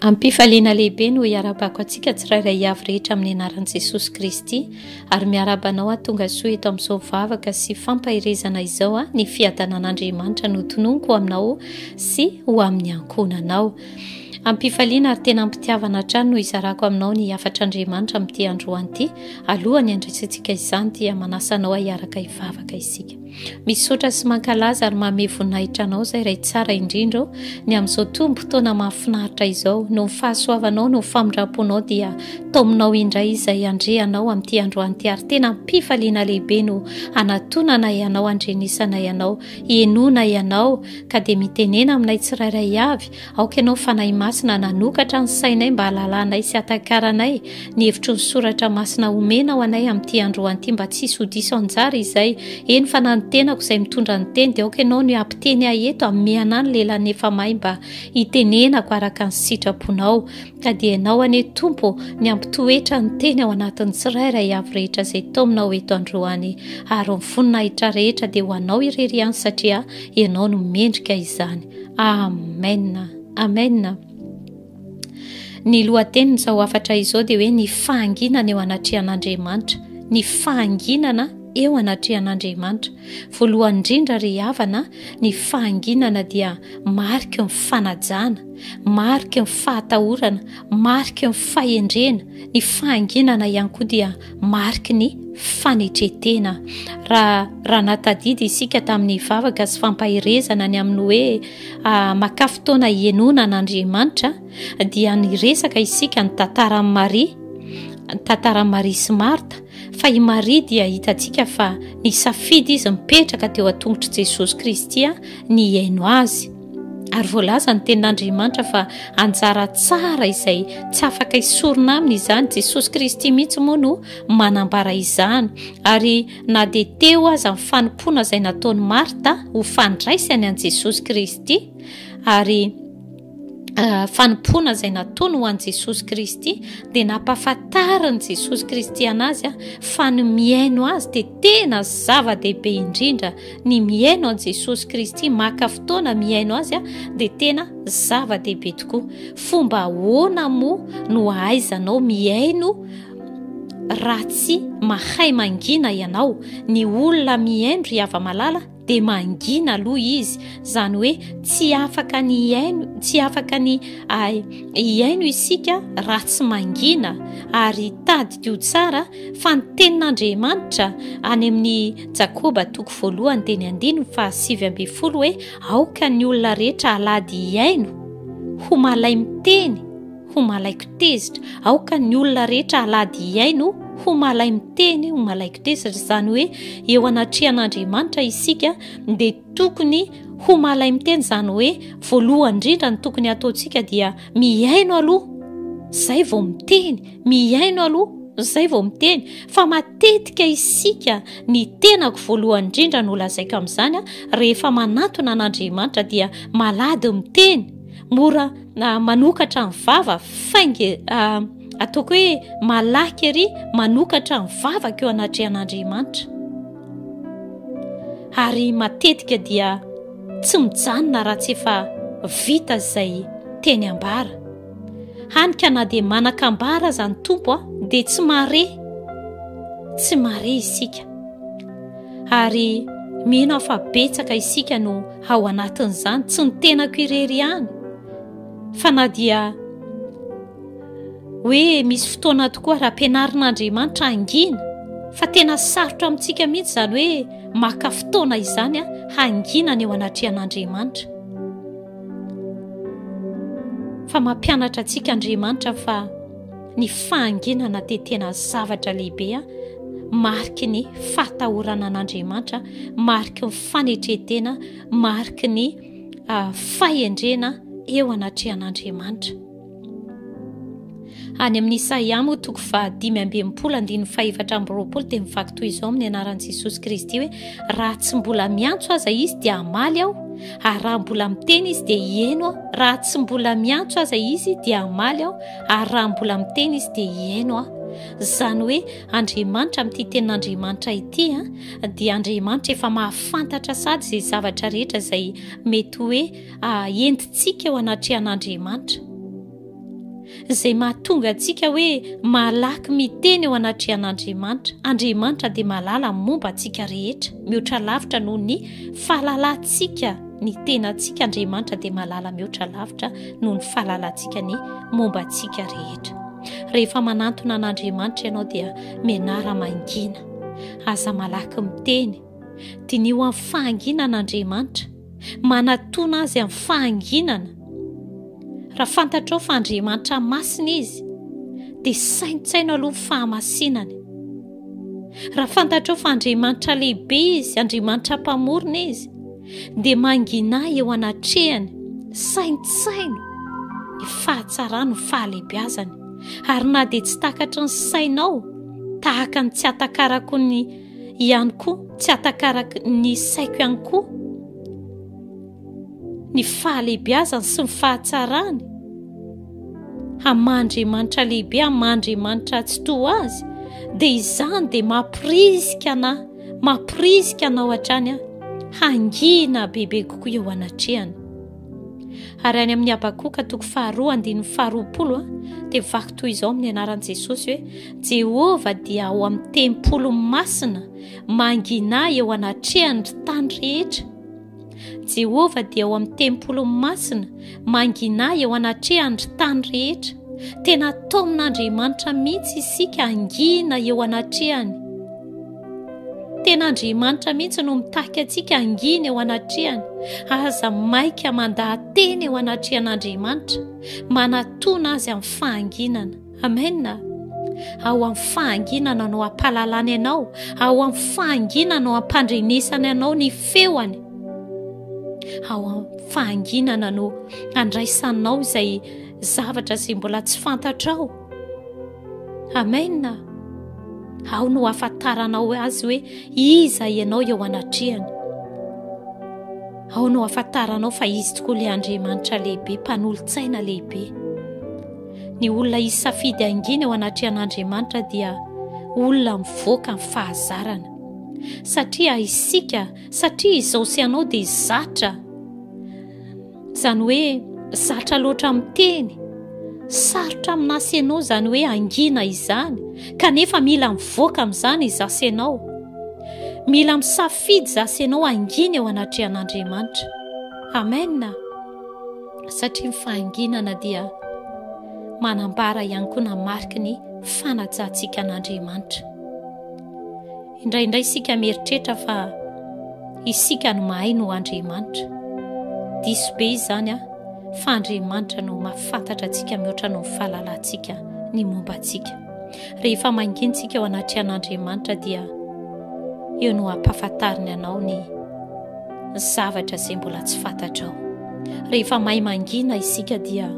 Ampifaliana lehibe no hiarabako antsika tsirairay avy rehetra amin'ny anaran'i Jesosy Kristy ary miaraba anao atonga soa eto amin'izao vavaka sy fampaherezana izao a ny fiadanan'Andriamanitra notononiko aminao sy ho amin'ny ankohonanao. Am-pifaliana ary tena am-pitiavana hatrany no izarako aminao ny hafatr'Andriamanitra amin'ity androany ity. Alohan'ny handresentsika izany dia manasa anao ahiaraka hivavaka isika. Misaotra sy mankalaza ary mamehy voninahitra anao izay Ray tsara indrindra ô ny amin'izao tombom-potoana mahafinaritra izao. Noho ny fahasoavanao, noho ny famindram-ponao dia taominao indray izay andrianao amin'ity androany ity ary tena am-pifaliana lehibe no hanatonanay anao, handrenesanay anao. Henoina ianao, ka dia mitenena aminay tsirairay avy, aoka ianao Fanahy Masina hananokatra ny sainay mba halalanay sy hatakaranay ny hevitry ny soratra masina omenao anay amin'ity androany ity mba tsy hisy ho diso anjara izay, eny fa na ny tenako izay mitondra ny teny dia aoka ianao ny hampiteny ahy eto, amiana ny lelan'ny efa may mba hitenenako araka ny sitraponao. ka dia ianao anie tompo ny ampitoetra ny teny ao anatin'ny tsirairay avy rehetra izay taominao eto androany ary ny voninahitra rehetra dia ho anao irery ihany satria ianao no mendrika izany amena amena ny lohatenin'izao afatra izao dia hoe ny fahanginana eo anatrehan'andriamanitra ny fahanginana eo anatrehan'andriamanitra voalohan indrindra ry havana ny fahanginana dia mariky ny fanajana mariky ny fahatahorana, mariky ny fahendrena, ny fahanginana ihany koa dia mariky ny fanetretena. Raha raha natadidy isika tamin'ny vavaka sy fampaherezana ny amin'ny hoe ah, makà fotoana hienoana an'Andriamanitra dia niresaka isika ny tantaran'i Maria, ny tantaran'i Maria sy Marta fa i Maria dia hitantsika fa nisafidy izy mipetraka teo an-tongotr'i Jesosy Kristy ny hihaino azy. Ary voalaza ny tenin'Andriamanitra fa anjara tsara izay tsy afaka hisorona aminy izany. Jesosy Kristy mihitsy moa no manambara izany. Ary na dia teo aza ny fanompoana izay nataon'i Marta ho fandraisany an'i Jesosy Kristy, ary ah, fanompoana izay nataony ho an'i Jesosy Kristy, dia nampahafantarin'i Jesosy Kristy anazy ah, fa ny mihaino azy dia Tena zava-dehibe indrindra ny mihaino an'i Jesosy Kristy, maka fotoana mihaino azy dia tena zava-dehibe tokoa. Fomba ahoana moa no ahaizanao mihaino raha tsy mahay mangina ianao? Ny olona mihaino ry hava-malala dia mangina aloha izy izany hoe tsy afaka ny hiaino tsy afaka ny ah, hiaino isika raha tsy mangina ary tadiko tsara fa ny tenin'andriamanitra any amin'ny jakoba toko voalohany dia ny andininy fa sivy ambin'ny folo hoe aoka ny olona rehetra alady hiaino ho malay miteny ho malaiko tezitra aoka ny olona rehetra halady hihaino ho malay miteny ho malaiko tezitra izany hoe eo anatrehan'andriamanitra isika dia tokony ho malay miteny izany hoe voalohany indrindra ny tokony hataontsika dia mihaino aloha izay vao miteny mihaino aloha izay vao miteny fa matetika isika ny tenako voalohany indrindra no lazaiko amin'izany a rehefa manatona an'andriamanitra dia malady miteny mora na manokatra ny vava fainge ah, ataoko hoe malaky ery manokatra ny vavaka eo anatrehan'andriamanitra ary matetika dia tsy mijanona raha tsy efa vita izay teny ambara hany ka na dia manakambara aza ny tompo a dia tsy mare tsy mare isika ary mino aho fa betsaka isika no ao anatin'izany tsy ny tenako irery ihany fa na dia hoe misy fotoana tokoa raha mpianarin'andriamanitra hangina fa tena sarotra amintsika mihitsy izany hoe maka fotoana izany a hangina ny eo anatrehan'andriamanitra fa mampianatra antsika andriamanitra fa ny fahanginana dia tena zavatra lehibe a mariky ny fahatahorana an'andriamanitra mariky ny fanetretena mariky ny ah, fahendrena eo anatrehan'andriamanitra any amin'ny isaia moa toko fahadimy ambemipolo andininy fahefatra ambyroapolo dia mivaky toy izao amin'ny anaran'i jesosy kristy hoe raha tsy mbola miantso aza izy dia amaly aho ary raha mbola miteny izy dia hieno aho raha tsy mbola miantso aza izy dia amaly aho Ary raha mbola miteny izy dia hihaino aho. Izany hoe Andriamanitra amin'ity tenin'Andriamanitra ity dia Andriamanitra efa mahafantatra sady izay zavatra rehetra izay mety hoe ah, entintsika eo anatrehan'Andriamanitra. Izay mahatonga antsika hoe malaky miteny eo anatrehan'Andriamanitra. Andriamanitra dia malala momba antsika rehetra, mihoatra lavitra noho ny fahalalantsika. ny tenantsika Andriamanitra dia malala mihoatra lavitra noho ny fahalalantsika ny momba antsika rehetra. Rehefa manantona an'Andriamanitra ianao dia menara mangina. Aza malaky miteny. Diniho amin'ny fahanginana Andriamanitra. Manatona azy amin'ny fahanginana. Raha fantatrao fa Andriamanitra masina izy, dia saintsaino aloha ny fahamasinany. Raha fantatrao fa Andriamanitra lehibe izy, Andriamanitra mpamorona izy, dia mangina eo anatrehany, saintsaino ny fahatsarany, ny fahalebiazany. Ary na dia tsy takatry ny sainao, tahaka ny tsy atakarako ny ihany koa, tsy atakarako ny saiko ihany koa, ny fahalehibiazany sy ny fahatsarany, aman-Driamanitra lehibe, aman-Driamanitra tsy toa azy, dia izany dia mampirisika anah, mampirisika anao hatrany aho, hangina bebe kokoa eo anatrehany. Ary any amin'ny Habakoka toko faharoa andininy faharoapolo dia vaky toy izao amin'ny anaran'i Jesosy hoe Jehovah dia ao amin'ny tempoly masina mangina eo anatrehany ry tany rehetra. Jehovah dia ao amin'ny tempoliny masina, mangina eo anatrehan'ny tany rehetra. Tena taomin'Andriamanitra mihitsy isika hangina eo anatrehany. Tena Andriamanitra mihitsy no mitaky antsika hangina eo anatrehany. Aza maika mandaha-teny eo anatrehan'Andriamanitra, manatona azy amin'ny fahanginana. Amena. Ao amin'ny fahanginana no ampalalany anao, ao amin'ny fahanginana no ampandrenesany anao ny feoany. Ao amin'ny fahanginana no andraisanao izay zavatra izay mbola tsy fantatrao. Amena. Ao no afantaranao azy hoe iza ianao eo anatrehany. Ao no afantaranao fa izy tokoa ilay Andriamanitra lehibe, mpanolo-tsaina lehibe. Ny olona hisy safidy hangina eo anatrehan'Andriamanitra dia olona mivoaka ny fahazarana. Satria isika, satria izao sy anao dia zatra. Izany hoe zatra loatra miteny. Sarotra amina sy ianao izany hoe hangina izany, kanefa mila mivoaka amin'izany izaho sy ianao. Mila misafidy izaho sy ianao hangina eo anatrehan'Andriamanitra. Amen. satria ny fahanginana dia manambara ihany koa na mariky ny fanajantsika an'Andriamanitra. Indraindray isika mieritreritra fa isika no mahay no Andriamanitra. Diso be izany ah, fa Andriamanitra no mahafantatra antsika mihoatra noho ny fahalalantsika ny momba antsika. Rehefa mangintsika eo anatrehan'Andriamanitra dia eo no ampafantariny anao ny zavatra izay mbola tsy fantatrao. Rehefa mahay mangina isika dia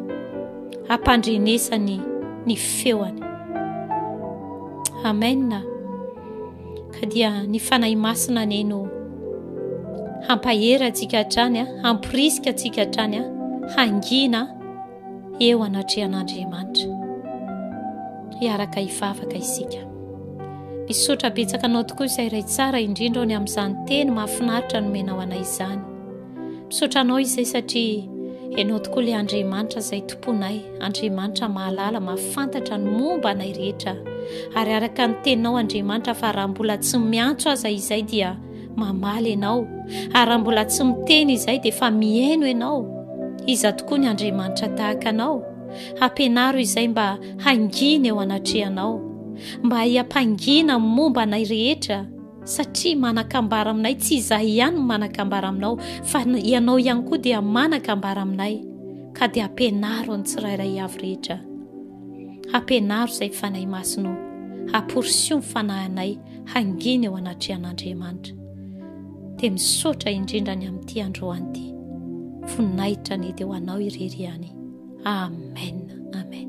ampandrenesany ny feoany. Amen. Ka dia ny fanahy masina anie no hampahery antsika hatrany, hamporisika antsika hatrany hangina. eo anatrehan'Andriamanitra. Hiaraka hivavaka isika. Misaotra betsaka anao tokoa izay iray tsara indrindra ao ny amin'izany teny mahafinaritra nomenao anay izany. Misaotra anao izay satria ianao tokoa ilay Andriamanitra izay tomponay, Andriamanitra mahalala, mahafantatra ny momba anay rehetra. Ary araka ny teninao Andriamanitra fa raha mbola tsy miantso aza izay dia mamaly ianao ary raha mbola tsy miteny izay dia fa mihaino ianao iza tokoa ny andriamanitra tahaka anao hampianaro izay mba hangina eo anatrehanao mba hiampangina momba anay rehetra satria manakambara aminay tsy izahy ihany ny manakambara aminao fa ianao ihany koa dia manakambara aminay ka dia hampianaro ny tsirairay avy rehetra hampianaro izay fanahy masino haporisio ny fanahinay hangina eo anatrehan'Andriamanitra. Dia misaotra indrindra ny amin'ity androany ity. Voninahitra ny dia ho anao irery ihany. Amen. Amen.